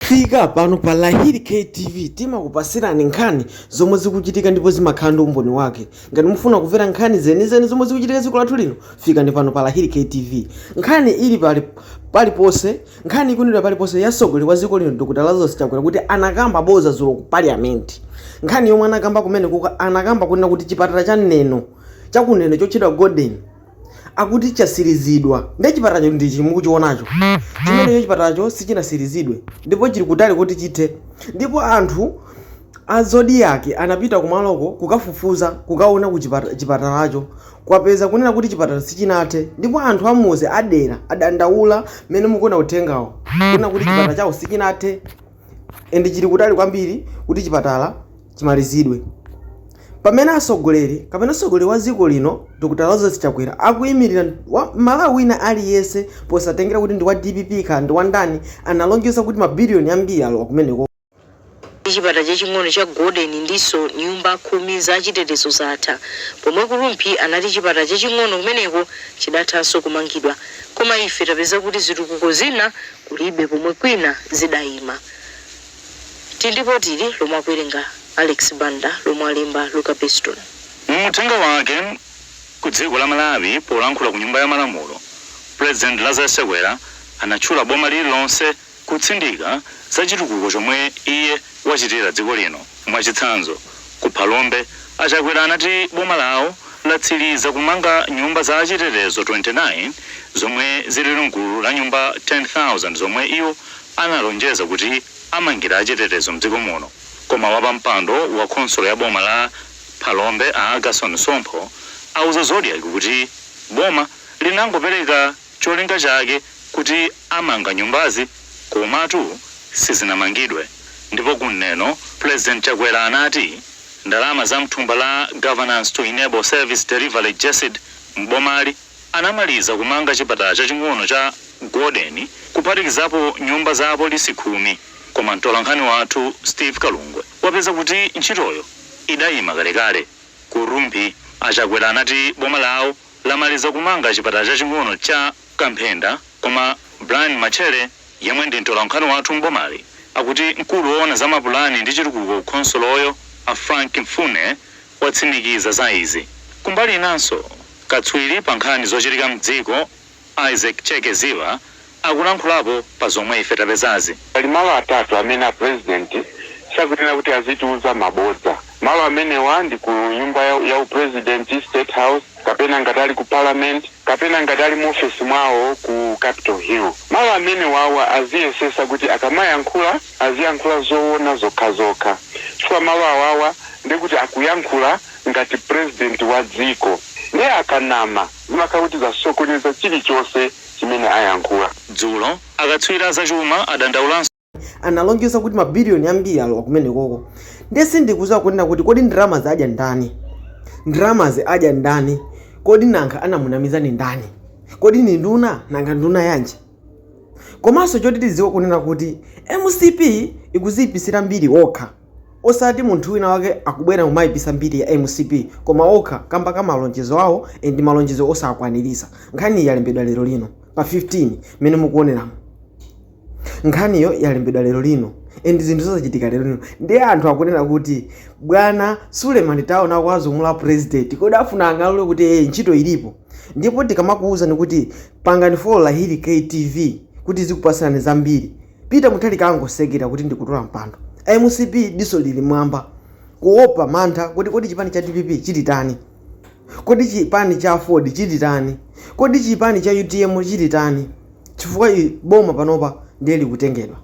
Fikani pano pa Lahiri K TV timakupasirani nkhani zomwe zikuchitika ndipo zimakhala ndi umboni wake. Ngati mufuna kumvera nkhani zenizeni zomwe zikuchitika dziko lathu lino, fikani pano pa Lahiri K TV. Nkhani ili paliponse, nkhani ikunenedwa paliponse ya mtsogoleri wa dziko lino Dr. Lazarus Chakwera kuti anakamba boza dzulo ku parliament. Nkhani yomwe anakamba kumene ku anakamba kunena kuti chipatala cha Neno cha ku Neno chotchedwa Golden akuti chasilizidwa nde chipatalacho ndi chimukuchionacho chimenecho chipatalacho sichinasilizidwe ndipo chili kutali kuti chithe ndipo anthu a Zodiak anapita kumaloko kukafufuza kukaona ku chipatalacho kukapeza kunena kuti chipatala sichinathe ndipo anthu a m'madera adandaula mmene mukuona uthengawo kunena kuti chipatala chawo sichinathe and chili kutali kwambiri kuti chipatala chimalizidwe. Pamene atsogoleri kapena mtsogoleri wa dziko lino Dr. Lazarus Chakwera akuimirira m'Malawi wina aliyense posatengera kuti ndi wa DPP kaya ndi wa ndani, analonjeza kuti mabiliyoni ambiri alowa kumeneko. Chipatala chaching'ono cha Golden ndiponso nyumba khumi za chitetezo zatha, pomwe ku Rumphi anati chipatala chaching'ono kumeneko chidathanso kumangidwa. Koma ife tapeza kuti zitukuko zina kulibe pomwe kwina zidayima Tili ndi lipoti ili lomwe akuwerenga Alex Banda lomwe alemba Luka Beston. Mu uthenga wake Ku dziko la Malawi polankhula ku nyumba ya malamulo President Lazarus Chakwera anatchula boma lililonse kutsindika za chitukuko chomwe iye wachitira dziko lino. Mwachitsanzo, ku Phalombe, a Chakwera anati boma lawo latsiliza kumanga nyumba za achitetezo 29 zomwe zili mgulu la nyumba 10,000 zomwe iwo analonjeza kuti amangira achitetezo mdziko muno koma wapampando wa khonsolo ya boma la Phalombe a Agason Sompho auza Zodiak kuti boma linangopereka cholinga chake kuti amanga nyumbazi komatu sizinamangidwe ndipo ku Neno Pulezidenti Chakwera anati ndalama za mthumba la Governance to Enable Service Delivery, Gesed, m'bomali anamaliza kumanga chipatala chaching'ono cha Golden kuphatikizapo nyumba za apolisi khumi koma mtolankhani wathu Steve Kalungwe wapeza kuti ntchitoyo idayima kalekale. Ku Rumphi, a Chakwera anati boma lawo lamaliza kumanga chipatala chaching'ono cha. Kamphenda, koma Brian Matchele yemwe ndi mtolankhani wathu m'bomali akuti mkulu woona za mapulani ndi chitukuko ku khonsoloyo a Frank Mfune watsimikiza za izi. Kumbali inanso, katswiri pa nkhani zochitika m'dziko Isaac Cheke Ziba akulankhulapo pa zomwe ife tapezazi. Pali malo atatu amene a Pulezidenti sakuyenera kuti azitiuza mabodza. Malo amenewa ndi ku nyumba ya upresidenti, State House, kapena ngati ali ku Parliament, kapena ngati ali mu ofesi mwawo ku Capital Hill. Malo amenewawa aziyesesa kuti akamayankhula aziyankhula zowona zokhazokha chifukwa malo awawa ndiye kuti akuyankhula ngati president wa dziko ndiye akanama zimakhala kuti zasokoneza chilichonse chimene ayankhula. Dzulo, akatswiri a zachuma adandaulanso. analonjeza kuti mabiliyoni ambiri alowa kumenekoko ndiye sindikudziwa kunena kuti kodi ndalamazi adya ndani ndalamazi adya ndani kodi nanga anamunamiza ndi ndani kodi ni nduna nanga nduna yanji komanso choti tidziwe kunena kuti mcp ikuziyipitsira mbiri okha osati munthu wina wake akubwera kumayipitsa mbiri ya mcp koma okha kamba ka malonjezo awo ndi malonjezo osakwaniritsa nkhani yalembedwa lero lino pa 15 mmene mukuoneramo nkhaniyo yalembedwa lero lino and zinthu zozachitika lero lino ndiye anthu akunena kuti bwana suleman taona kwazumula apresident kodi afuna kung'alula kuti ee ntchito ilipo ndipo tikamakuwuzani kuti pangani follow lahiri ktv kuti tizikupatsirani zambiri peter mutharika akungosekerera kuti ndikutola mpando mcp diso lili mwamba kuopa mantha kuti kodi chipani cha dpp chititani Kodi chipani cha aford chititani? Kodi chipani cha utm chititani? Chifukwa boma panopa ndiye likutengedwa.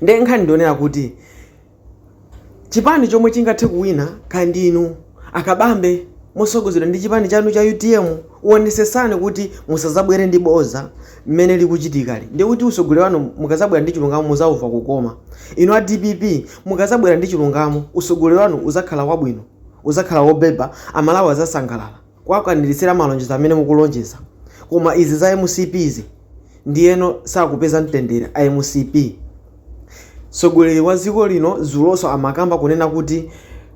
Ndiye nkhani ndi yonena kuti chipani chomwe chingathe kuwina kaya ndi inu a Kabambe mosogozedwa ndi chipani chanu cha utm wonesesani kuti musazabwere ndi boza mmene likuchitikali ndiye kuti usogoleri wanu mukazabwera ndi chilungamo muzaumva kukoma inu a dpp mukazabwera ndi chilungamo usogoleri wanu uzakhala wabwino Uzakhala wobeba amalawi azasangalala kuwakwanilitsila malonjezo amene mukulonjeza koma izi za mcp izi ndiyeno sakupeza mtendele a mcp mtsogoleli wa ziko lino zuloso amakamba kunena kuti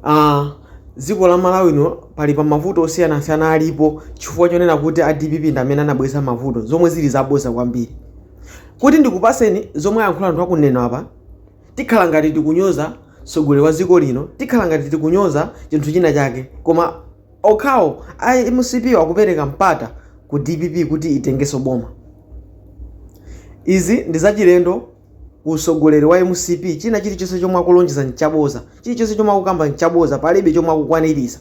aah ziko la malawi lino pali pa mavuto osiyanasiyana alipo chifukwa chonena kuti a dpp ndamene anabwelesa mavuto zomwe zili zaboza kwambiri kuti ndikupaseni zomwe ayankhula anthu akunena apa Tikhala ngati tikunyoza mtsogoleri wa dziko lino, tikhala ngati tikunyoza chinthu china chake, koma okhawo a mcp-wo akupereka mpata ku dpp kuti itengenso boma. Izi ndi zachilendo ku mtsogoleri wa mcp, china chilichonse chomwe akulonjeza ndi chabodza, chilichonse chomwe akukamba ndi chabodza, palibe chomwe akukwaniritsa.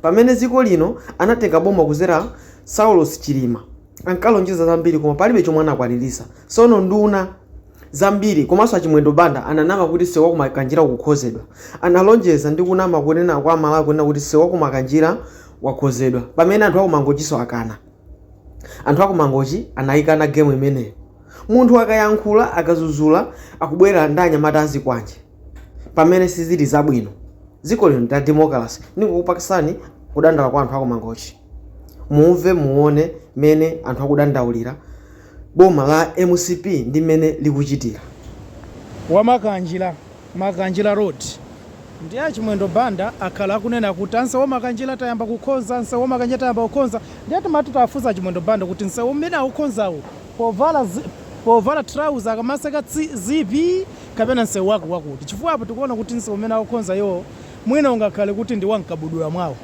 Pamene dziko lino anatenga boma kudzera Saulos Chilima, ankalonjeza zambiri koma palibe chomwe anakwaniritsa. Tsono nduna. zambiri komanso a Chimwendo Banda ananama kuti msewu wa ku Makanjira ukukhonzedwa. Analonjeza ndi kunama kunena kwa Amalawi kunena kuti msewu wa ku Makanjira wakhonzedwa pamene anthu a ku Mangochinso akana. Anthu a ku Mangochi anayikana gemu imeneyo. Munthu akayankhula, akazuzula akubwera ndi anyamata a zikwanje pamene sizili zabwino. Dziko lino ndi la demokalase. Ndingokupasani kudandala kwa anthu a ku Mangochi. Mumve muone mene anthu akudandaulira boma la mcp ndi mmene likuchitira. Wa Makanjira, Makanjira Road, ndiye a Chimwendo Banda akhala akunena kuti ah nsewu wa Makanjira tayamba kukhonza, nsewu wa Makanjira tayamba kukhonza ndiye timati tawafunse a Chimwendo Banda kuti nsewu umene akukhonzawu povala povala trouser akamaseka zipi kapena nsewu wake wakuti chifukwa apa tikuona kuti nsewu umene akukhonza iwowo Mwina ungakhale kuti ndi wa mkabudula mwawo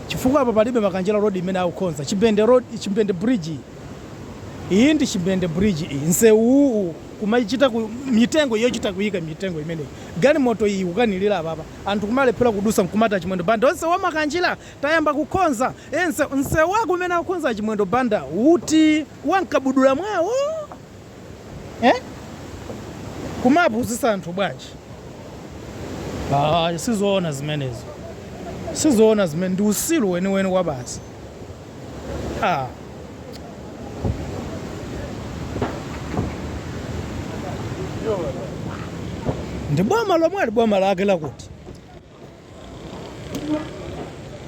chifukwa apa palibe Makanjira road imene akukhonza, Chimbende road, Chimbende bridge iyi, iyi ndi Chimbende bridge iyi, nsewu uwu kumachita ku, mitengo yochita kuyika mitengo imeneyi, galimoto iyi ikukanilira apapa, anthu kumalephera kudusa nkumati a Chimwendo Banda nsewu wa Makanjira tayamba kukhonza ee nsewu, nsewu wake umene akukhonza a Chimwendo Banda uti? Wa mkabudula mwawo? eh? kumapuzisa anthu bwanji ah, sizoona zimenezo sizoona zimene ndi usilu weniweni wa basi ah. ndi boma lomweli boma lake lakuti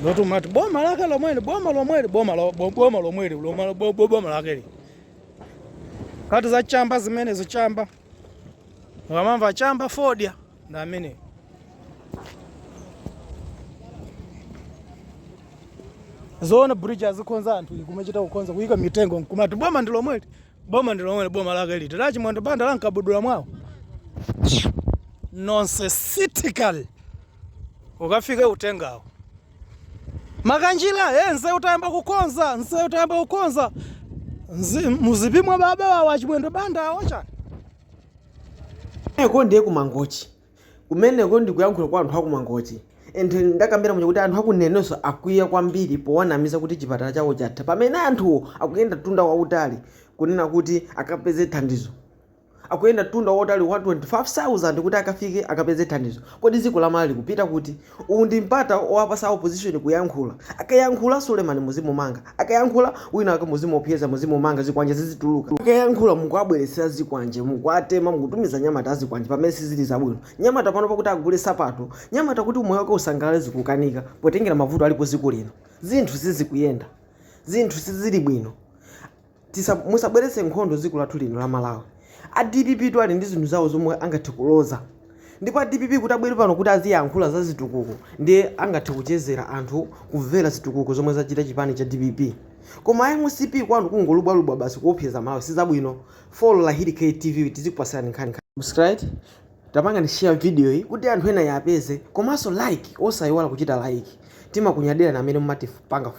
lotimati boma lake lomweli boma lomweli boma lomweli boma lake Kati za chamba zimenezo chamba. Mukamamva chamba fodya ndi ameneyu. Zoona bridge azikhonza anthu nkumachita kukhonza kuyika mitengo nkumati boma ndi lomweli. Boma ndi lomweli boma lake liti. La Chimwendo Banda la nkabudula mwawo. Nonsensical. Ukafika utengawo. Makanjira hey nsewu tayamba kukonza nsewu tayamba kukonza Nzi- mzipi mwa baba wawo achimwendo banda awo chani uko ndiye kumangochi kumeneko ndikuyankhula kwa anthu akumangochi and ndakambira muja kuti anthu akunenenso akwiya kwambiri powanamiza kuti chipatala chawo chatha pamene anthuwo akuyenda mtunda wautali kunena kuti akapeze thandizo akuyenda mtunda wautali wa 25,000 kuti akafike akapeze thandizo. Kodi dziko la Malawi likupita kuti? Uwu ndi mpata owapasa a opposition kuyankhula. Akayankhula Suleman muzimumanga. Akayankhula wina wake muzimuopyeza, muzimumanga zikwanje zizituluka. Akayankhula mukuwabweretsera zikwanje, mukuwatema, mukutumiza anyamata a zikwanje pamene sizili zabwino. Nyamata pano pakuti agule sapato, nyamata kuti umoyo wake usangalale zikukanika potengera mavuto alipo dziko lino. Zinthu sizikuyenda. Zinthu sizili bwino. tisa musabweretse nkhondo dziko lathu lino la Malawi a dpp tu ali ndi zinthu zawo zomwe angathe kuloza ndipo a dpp kuti abwere pano kuti aziyankhula za zitukuko ndiye angathe kuchezera anthu kumvera zitukuko zomwe zachita chipani cha dpp koma a mcp kwanu kungolubwalubwa basi kuopseza aMalawi sizabwino follow lahiri k tv tizikupatsirani nkhani subscribe tapangani share video iyi kuti anthu ena ayipeze komanso like osayiwala kuchita like timakunyadirani amene mumatipanga